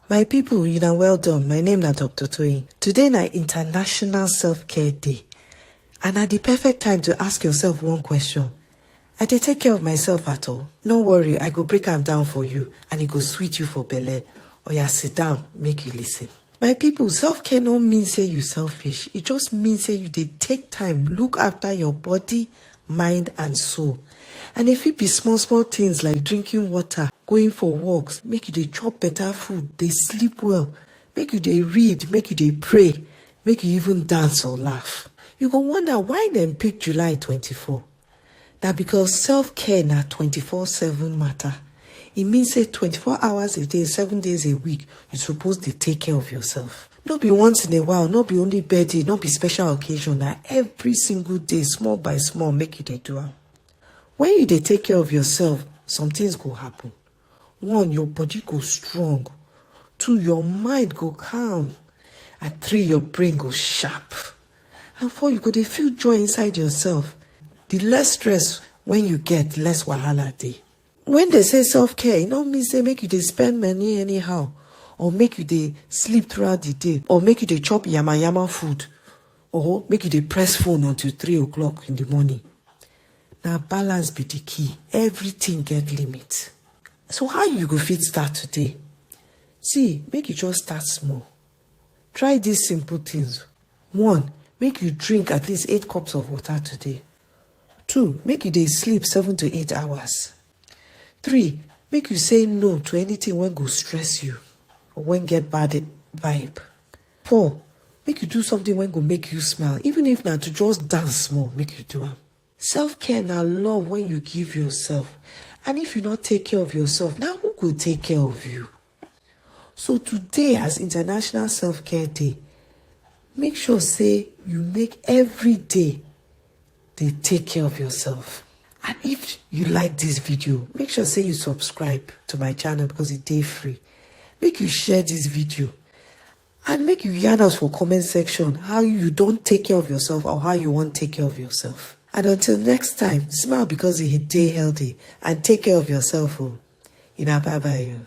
My people, you know well done. My name na Dr. Toyin. Today na International Self-Care Day. And at the perfect time to ask yourself one question. I dey take care of myself at all? No worry, I go break am down for you and e go sweet you for belle. Oya sit down, make you listen. My people, self-care no mean say you selfish. E just mean say you dey take time look after your body mind and soul and e fit be small small things like drinking water, going for walks, make you dey chop better food, dey sleep well, make you dey read, make you dey pray, make you even dance or laugh. You go wonder why dem pick July twenty four? Na because self care na twenty four seven matter. E mean say twenty four hours a day, seven days a week, you suppose dey take care of yourself. no be once in a while no be only birthday no be special occasion na every single day small by small make you dey do am when you dey take care of yourself some things go happen one your body go strong two your mind go calm and three your brain go sharp and four you go dey feel joy inside yourself the less stress when you get less wahala dey when they say self-care e no mean say make you dey spend money anyhow or make you dey sleep throughout the day or make you dey chop yama yama food or make you dey press phone until three o'clock in the morning na balance be the key everything get limit so how you go fit start today see make you just start small try these simple things one make you drink at least eight cups of water today Two, make you dey sleep seven to eight hours. Three, make you say no to anything wey go stress you or wey get bad vibe. Four, make you do something wey go make you smile even if na to just dance small make you do am. Self care na love wey you give yourself and if you no take care of yourself na who go take care of you? So today as International Self-Care Day, make sure say you make every day dey take care of yourself. And if you like this video, make sure say you subscribe to my channel because it dey free. Make you share this video and make you yarn us for comment section how you don take care of yourself or how you wan take care of yourself. And until next time, smile because e dey healthy and take care of yourself o. Una bye bye o.